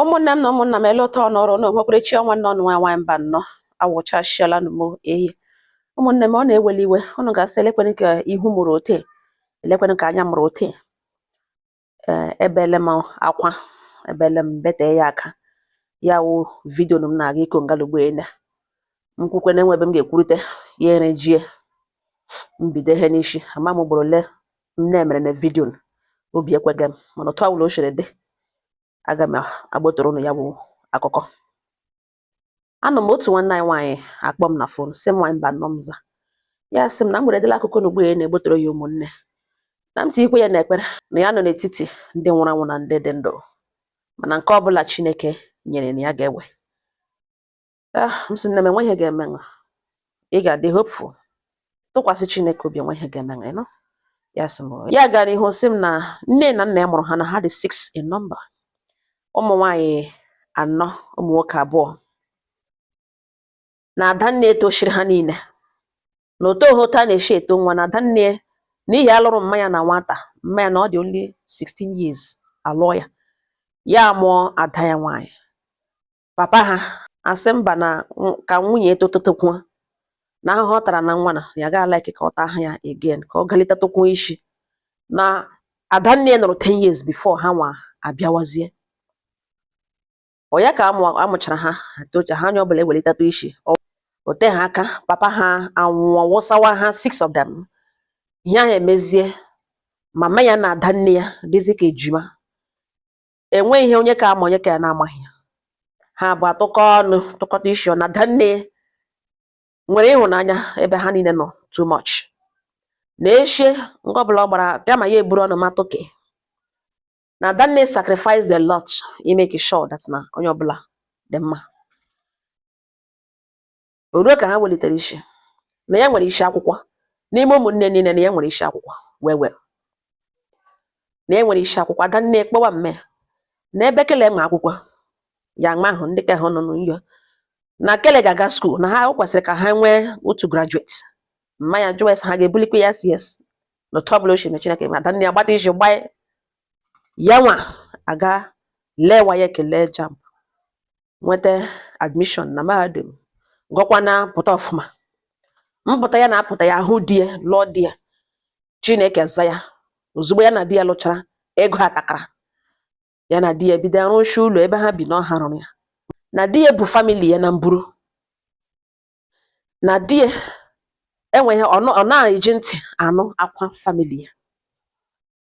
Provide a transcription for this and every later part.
ụmụnne m na ụmụnna m ele ụtọ ọnọrọ na onwekwerechi ọ nwanne ụnụ nwaanyị Mbanọ awụchasịala m eyi ụmụnne m ụnụ eweli iwe ụnụ ga-asị elekwenụ ka ihu mụrụ ote elekwenụ ka anya mụrụ ote ee ebeele m akwa ebeele m bete ya aka ya wụ vidio m na-aga ịkọ ngalugbo ele m kwukwe na enwe ebe m ga-ekwurute ya erejie m bido ihe n'isi ama m ugboro ole m mere na vidio obi ekweghị m mana otu ọbụla o siri dị aga m agbotoro ụnụ ya bụ akụkọ anọ m otu nwanne anyị nwaanyị akpọ m na fon sị m nwaanyị Mbanọ m za ya sị m na m weredela akụkọ na ugbu ya na-egbotoro ya ụmụnne na m tinyekwa ya n'ekpere na ya nọ n'etiti ndị nwụrụ anwụ na ndị dị ndụ mana nke ọbụla Chineke nyere na ya ga-ewe Ah, m sị nne m enwe ihe ga-emenụ ị ga-adị hopeful tụkwasị Chineke obi enwe ihe ga-emenụ ị nụ ya sị m "Oh." ya gara ihu sị m na nne na nna ya mụrụ ha na ha dị six in number ụmụ nwaanyị anọ ụmụ nwoke abụọ na adanne e tochiri ha niile na otu ohe otu a na-esi eto nwa na adanne n'ihi a lụrụ mma ya na nwata mma ya na ọ dị only 16 years a lụọ ya ya mụọ ada ya nwaanyị papa ha asị mba na nw- ka nwunye e totatakwuo na ahụhụ ọ tara na nwa na ya ga like ka ọ taa ahụ ya again ka ọ galitetakwu isi na adanne ya nọrọ 10 years before ha nwa abịawazie ọ ya ka amụ amụchara ha atocha ha onye ọbụla ewelitatụ isi Ọ- o teha aka papa ha anwụọ wụsawa ha six of them ihe ahụ emezie mama ya na adanne ya dịzi ka ejima enwe ihe onye ka a ma onye ka ya na-amaghị ya ha abụọ atụkọ ọnụ tụkọta isi na adanne nwere ịhụnanya ebe ha niile nọ too much na echie nke ọbụla ọ gbara kama ya eburu ọnụ ma toke na adanne sacrificed a lot i make sure that na onye ọbụla dị mma O ruo ka ha welitere isi na ya nwere isi akwụkwọ n'ime ụmụnne niile na ya nwere isi akwụkwọ wee wee na ya nwere isi akwụkwọ ada nne kpọwa mma e na ebe Kele ma akwụkwọ ya ma ahụ ndị ka ha nọ n'ụyọ na Kele ga-aga school na ha o kwesịrị ka ha nwee otu graduate mma ya jụwa ha ga-ebulikwa ya sị yes na otu ọbụla o si na Chineke ma ada nne ya gbata isi gbaa ya nwa aga lewa ya e Kele JAMB nweta admission na mahadum gụkwa na pụta ọfụma mpụta ya na-apụta ya ahụ di ya lụọ di ya Chineke za ya ozugbo ya na di ya lụchara ego atakara ya na di ya bido arụshi ụlọ ebe ha bi na ọ ha rụrụ ya na di ya bu family ya na mburu na di ya enweghị ọ na-eji ntị anụ akwa family ya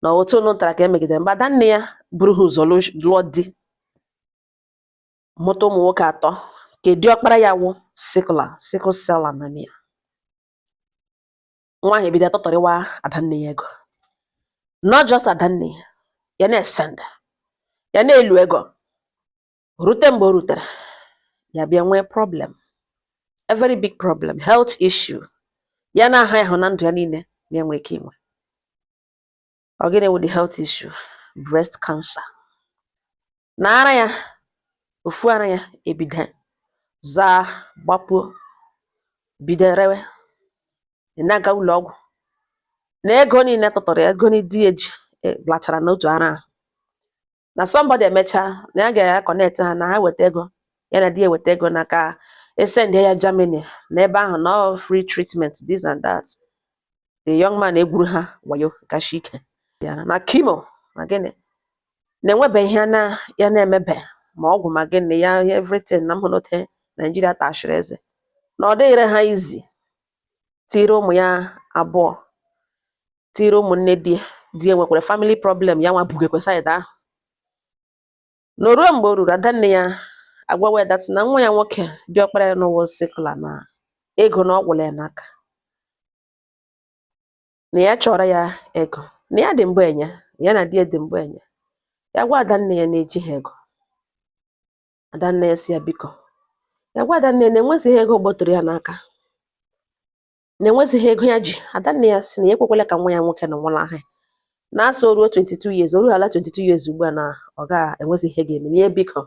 na otu ọ nụtara ka e megidere mgbe adanne ya buru ha ụzọ lụọ di mụta ụmụ nwoke atọ nke diọkpara ya wụ sickler sickle cell anemia nwa ahụ ebido atọtọrịwa adanne ya ego not just adanne ya ya na-esenda ya na-elu ego rute mgbe o rutere ya bịa nwee problem a very big problem health issue ya na-aha ịhụ na ndụ ya niile na-enwe ike inwe ọ gịnị wụ the health issue breast cancer na ara ya ofu ara ya ebido zaa gbapuo bido rewe ya na-aga ụlọ ọgwụ na ego niile tụtụrụ ya ego niile di ya ji e, lachara n'otu ara ahụ na somebody emechaa na ya ga-aconnect ha na ha weta ego ya na di ya weta ego na ka esend ya Germany na ebe ahụ na ọ free treatment this and that the young man egwuru ha wayo kashi ike ya na chemo na gịnị na enwebe ihe na ya na-emebe ma ọgwụ ma gịnị ya everything na mhụnote Naijiria tashiri eze na ọ dịghịrị ha easy tiri ụmụ ya abụọ tiri ụmụnne di di ya nwekwara family problem ya nwa bugekwe side ahụ na o ruo mgbe o ruru adanne ya agwawa ya that na nwa ya nwoke diọkpara ya na ọ wụ sickler na ego na ọ gwụla ya n'aka na ya chọrọ ya ego na ya dị mbụ enye ya na di ya dị mbụ enye ya gwa adanne ya na ejiha ego adanne ya si ya biko ya gwa adanne ya na enwezighị ego gbọtụrụ ya n'aka na enwezighị ego ya ji adanne ya si na ya ekwekwala ka nwa ya nwoke nwụlahụ na a sị o ruo 22 years o ruhala 22 years ugbu a na ọ ga enwezi ihe ga-eme ya biko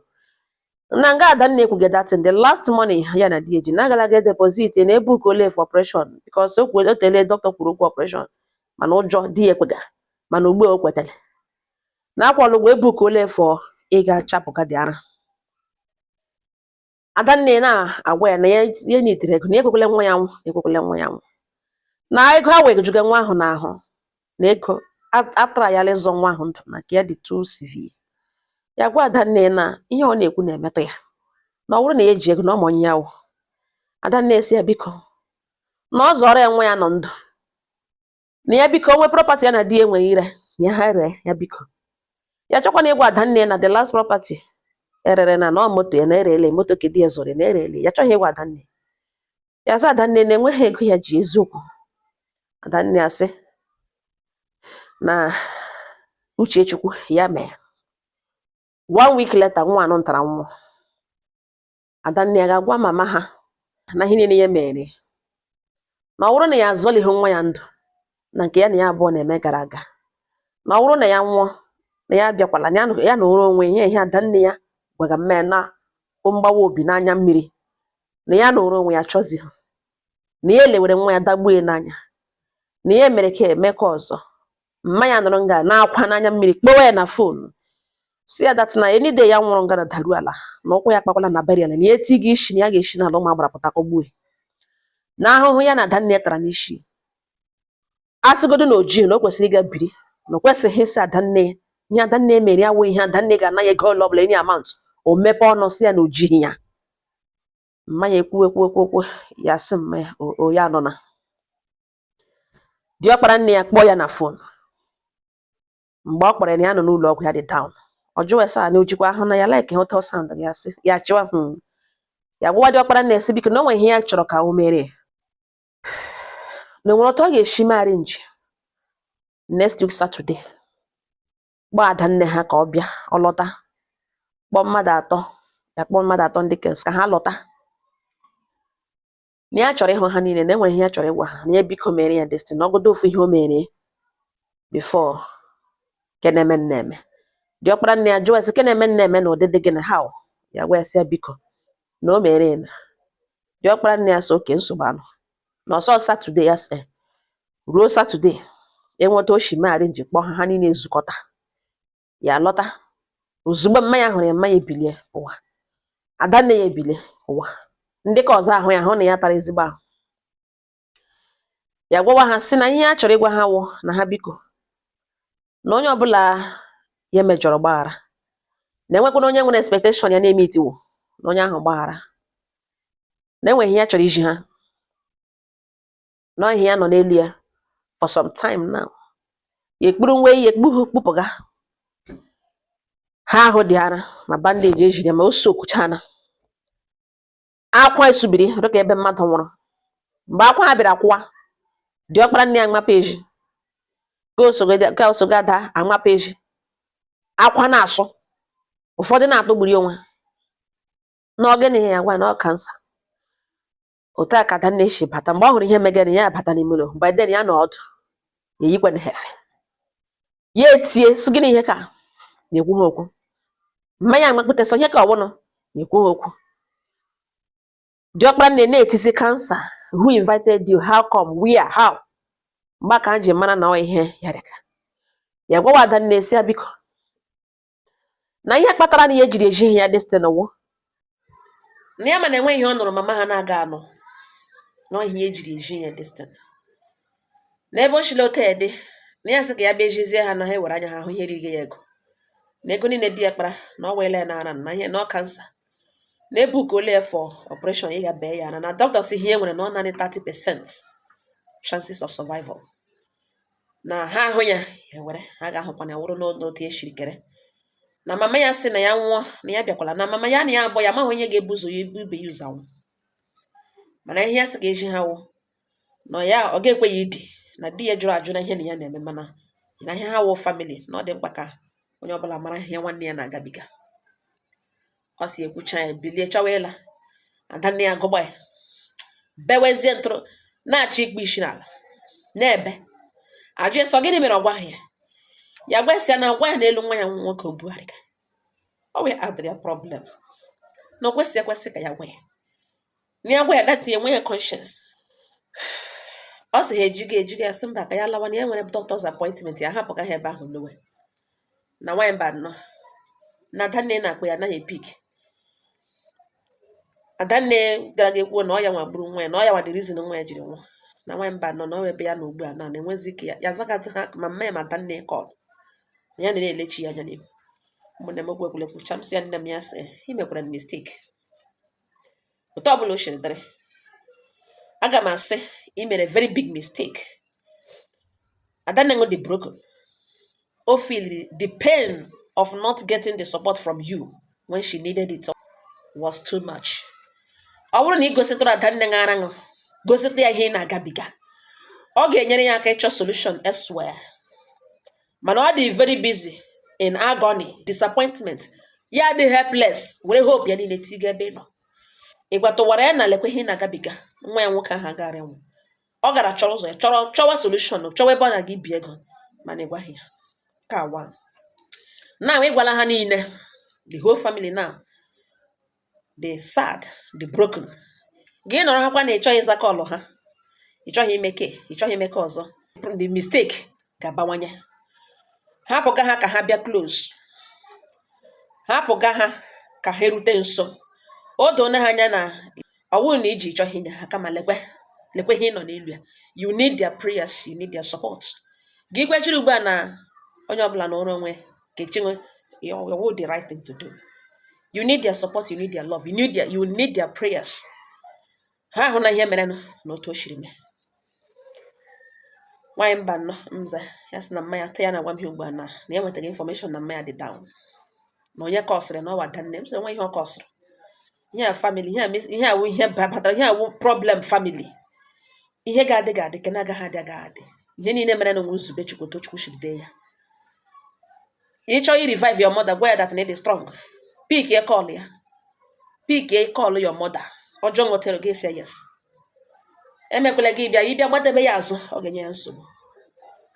na nga adanne ekwuge that thing the last money ya na di ya ji na agala ga deposit na ebookuole for operation because o kwere o tele dọkịta kwuru okwu operation mana ụjọ adị ya ekwe ga mana ugbu a o kwetara na akwụọla ụgwọ ebookuole for ịga chapụga the ara adanne na-agwa ya na ya ya needere ego na ya ekwekwele nwa ya nwụ ya ekwekwele nwa ya nwụ na ego a wee juga nwa ahụ n'ahụ na ego a- atara ya ịzọ nwa ahụ ndụ na nke ya dị too severe ya gwa adanne na ihe ọ na-ekwu na-emetụ ya na ọ bụrụ na ya ji ego na ọ ma onye ya wụ adanne si ya biko na ọ zọọrọ ya nwa ya nọ ndụ na ya biko o nwee property ya na di ya nwere ire ya ha ree ya biko ya chọkwana ịgwa ada nne ya na the last property erere na ọ moto ya na erele moto ka di ya zụrụ ya na erele ya chọghị ịgwa ada nne ya sị ada nne na enweghị ego ya ji eziokwu ada nne ya sị na uche chukwu ya mee one week later nwa anụ ntara nwụọ adanne ya ga-agwa mama ha na ihe niile ya mere na ọ bụrụ na ya azọlighị nwa ya ndụ na nke ya na ya abụọ na-eme gara aga na ọ bụrụ na ya nwụọ na ya abịakwala na ya nọ- ya nọrọ onwe ya ihe adanne ya gwaga mme na bụ mgbawa obi n'anya mmiri na ya nọrọ onwe ya chọzighị na ya elewere nwa ya dagbue n'anya na ya mere ka eme ka ọzọ mma ya nọrọ nga na-akwa n'anya mmiri kpọwa ya na fonu sị ya that na any day ya nwụrụ nga na daru ala na ụkwụ ya kpakwala na burial na ya eti gị isi na ya ga-esi n'ala ụmụ agbara pụta kụgbue na ahụhụ ya na adanne tara n'isi asịgodo na o jii na o kwesịrị ịga biri na o kwesịghị ịsị adanne ihe adanne mere ya wụ ihe adanne ga-ana ya ego ole ọbụla any amount o mepe ọnụ sị ya na o jighị ya mma ya ekwuwe kwuwe kwuwe ya sị mma ya o ya nọ na diọkpara nne ya kpọọ ya na fon mgbe ọ kpọrọ ya na ya nọ n'ụlọ ọgwụ ya dị down ọ jụwa ese a na o jikwa ahụ na ya like otu ọ sound ya sị ya jikwa ahụ hmm. ya gwawa diọkpara nne ya sị biko na o nwe ihe ya chọrọ ka o meere na o nwere otu ọ ga-esi mee arrange next week Saturday kpọọ ada nne ha ka ọ bịa ọ lọta kpọọ mmadụ atọ ya kpọọ mmadụ atọ ndị ka ọzọ ka ha lọta na ya chọrọ ịhụ ha niile na enwere ihe ya chọrọ ịgwa ha na ya biko mere ya destin na ọ wụgodu ofu ihe o mere before ke na-emenụ emee diọkpara nne ya jụọ ya sị ke na-emenụ emee na ụdịdị gịnị how ya gwa ya sị ya biko na o mere eme diọkpara nne ya sị okay nsogbu anọghị na ọ sọ Saturday ya sị ruo Saturday enwe otu o shi mee arrange kpọọ ha ha niile ezukọta ya lọta ozugbo mma ya hụrụ ya mma ya ebilie ụwa ada nne ya ebilie ụwa ndị ka ọzọ ahụ ya hụ na ya tara ezigbo ahụ ya gwawa ha sị na ihe ya chọrọ ịgwa ha wụ na ha biko na onye ọbụla ya mejọrọ gbaghara na enwekwana onye nwere expectation ya na-emeetighị na onye ahụ gbaghara na enwere ihe ya chọrọ izi ha na ihe ya nọ n'elu ya for some time now ya ekpuru nwa ihe o kpu kpụpụga ha ahụ dị ara ma bandage ejiri ma o sokwuchana akwa esubiri dịka ebe mmadụ nwụrụ mgbe akwa ha bịara kwụwa diọkpara nne ya amapụ ezi ka osoga ada amapụ ezi akwa na-asụ ụfọdụ na-atụgburi onwe ha na ọ gịnị ya gwa na ọ cancer otu a ka Adanne si bata mgbe ọ hụrụ ihe megara ya bata n'ime ụlọ by then ya nọ ọdụ ya eyikwana ha efe ya etie sị gịnị ihe ka na-ekwu ha okwu mma ya amakpụta sọ ihe ka ọwụnụ na-ekwu ha okwu diọkpara nne na-eti sị kansa who invited you how come where how mgbe ka m ji mara na ọ ihe ya dịka ya gwawa Adanne sị ya biko na ihe kpatara na ya jiri ezighị ya this thing wụ na ya ma na enweghị ihe ọ nụrụ mama ha na-aga anụ na ihe ejiri ezi ya this thing na ebe o shila otu a dị na ya sị ka ya bịa ezizie ha na ha ewere anya ha hụ ihe riri ya ego na ego niile di ya kpara na ọ weela ya n'ara na ihe na ọ kansa na e bookuola ya for operation ịga bee ya na na doctor sị ihe nwere na ọ naanị 30 percent chances of survival na ha ahụ ya ewere ha ga-ahụkwa na ya wụrụ n'otu e siri kere na mama ya sị na ya nwụọ na ya bịakwala na mama ya na ya abụọ ya amaghị onye ga-ebu ụzọ ya ibe ya ụzọ anwụ mana ihe ya sị ga-ezi ha wụ na ya ọ ga-ekwe ya idi na di ya jụrụ ajụ na ihe na ya na-eme mana na ihe ha wụ family na ọ dị mkpa ka onye ọbụla mara ihe nwanne ya na-agabiga ọ si ekwucha ya bilie chọwa ịla Adanne ya gụgba ya bewezie ntụrụ na-achọ ikpe isi n'ala na-ebe ajụ ya sị ọ gịnị mere ọ gwaghị ya ya gwa sị ya na ịgwa ya n'elu nwa ya nwoke o bugharịga ọ wee adịrị ya problem na o kwesịrị ekwesị ka ya gwa ya na ya gwa ya that enweghị ya conscience ọ sị ha ejiga ejiga ya sị mba ka ya lawa na ya nwere doctor's appointment ya hapụ ka ha ebe ahụ lawa na nwaanyị Mbano na Adanne na-akpọ ya anaghị epick Adanne gara ga ekwuo na ọ ya nwa gburu nwa ya na ọ ya nwa the reason nwa ya jiri nwụọ na nwaanyị Mbano nọ ebe ya na ugbu a na na-enwezi ike ya ya zagata ha ma mma ya ma Adanne call na ya na-elechi ya anya n'ihu mụ na emegbu egwuregwu chai m sị ya nne m ya sị i mekwara mistake otu ọbụla o siri dịrị aga m asị i mere very big mistake Adanne gị dị broken o feeliri the pain of not getting the support from you when she needed it was too much ọ bụrụ na ị gositụrụ Adanne gị ara ahụ gosita ya ihe ị na-agabiga ọ ga-enyere ya aka ịchọ solution elsewhere mana ọ dị very busy in agony disappointment ya dị helpless were hope ya niile tiga ebe ị nọ ị gwatụwara ya na lekwa ihe ị na-agabiga nwa ya nwoke ahụ agaghara anwụ ọ gara chọrọ ụzọ ya chọrọ chọwa solution chọwa ebe ọ na-aga ibi ego mana ị gwaghị ya ka wa now ị gwala ha niile the whole family now dị sad dị broken gị nọrọ ha kwa na ịchọghị ịza kọlụ ha ịchọghị ime ke ịchọghị ime ke ọzọ the mistake ga-abawanye hapụga ha ka ha bịa close hapụga ha ka ha erute nso o doona ha anya na ọ bụghị na i ji ị chọghị inye ha kama lekwe lekwe ihe ị nọ n'elu ya you need their prayers you need their support gị ikwechiri ugbu a na onye ọbụla nọrọ onwe ke echeghị m ọ wụ the right thing to do you need their support you need their love you need their, you need their prayers ha ahụna ihe mere na otu o siri mee nwaanyị Mbano m zaa ya sị na mma ya taa ya na agwa m ihe ugbu a na na ya nwetaghị infọmeshọn na mma ya dị down na onye kọsịrị na ọ wụ Adanne m sị enweghị ihe ọ kọsịrị ihe a family ihe a mes- ihe a wụ ihe ba- batara ihe a wụ problem family ihe ga-adị ga-adị ke na-agaghị adị agaghị adị ihe niile merenụ wụ nzube chukwu otu chukwu si dee ya ị chọọ ị revive your mother gwa ya that na ị dị strong pikie kọl ya pikie kọl your mother ọ jụọ nwetara gị sị ya yes emekwele gị bịa ịbịa gbadebe ya azụ ọ ga-enye ya nsogbu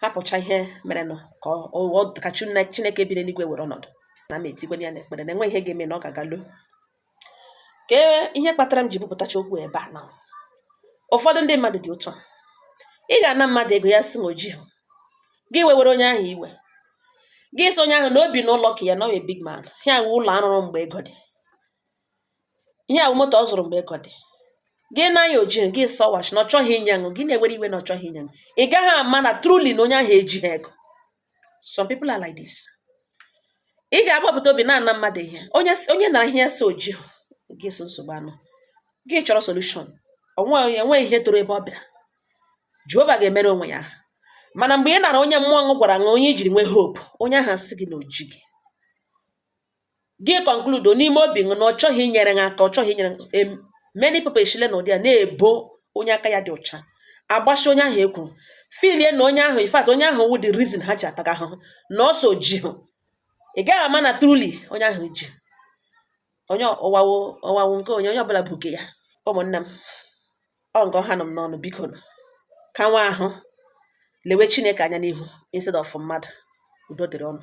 hapụcha ihe merenụ ka ọ ka chineke bi n'eluigwe were ọnọdụ na m etikwanye ya n'ekpere na enwe ihe ga-eme na ọ ga-aga luo ka e, ihe kpatara m ji bupụtacha okwu ebe a na ụfọdụ ndị mmadụ dị otu a ị ga-ana mmadụ ego ya sị na o jii gị wewere onye ahụ iwe gị sị onye ahụ na o bi n'ụlọ ke ya na ọ wụ big man ihe a wụ ụlọ ọ rụrụ mgbe ego dị ihe a wụ moto ọ zụrụ mgbe ego dị gị naa ya o jii gị sọwachi na ọ chọghị inye ṅụ gị na-ewere iwe na ọ chọghị inye ṅụ ị gaghị ama na truly na onye ahụ ejighị ego some people are like this ị ga-agbapụta obi na-ana mmadụ ihe onye onye ị nara ihe sị o jii gị solve nsogbu ṅụ gị chọrọ solution onwe enweghị ihe toro ebe ọ bịara jehova ga-emere onwe ya mana mgbe ị nara onye mmụọ ṅụ gwara ṅụ onye i jiri nwee hope onye ahụ asị gị na o jighị gị conclude n'ime obi ṅụ na ọ chọghị inyere ha aka ọ chọghị inyere many people eshile n'ụdị a na-ebo onye aka ya dị ọcha agbasi onye ahụ ekwuru filie na onye ahụ in fact onye ahụ wụ the reason ha ji ataga ahụhụ na ọsọ ji hụ ị gaghị ama na truly onye ahụ ji onye ọwawo ọwawo nke onye onye ọbụla bu nke ya ụmụnne m ọ nke ọha nọ m n'ọnụ bikonụ ka nwa ahụ lewe chineke anya n'ihu instead of mmadụ udo dịrị ụnụ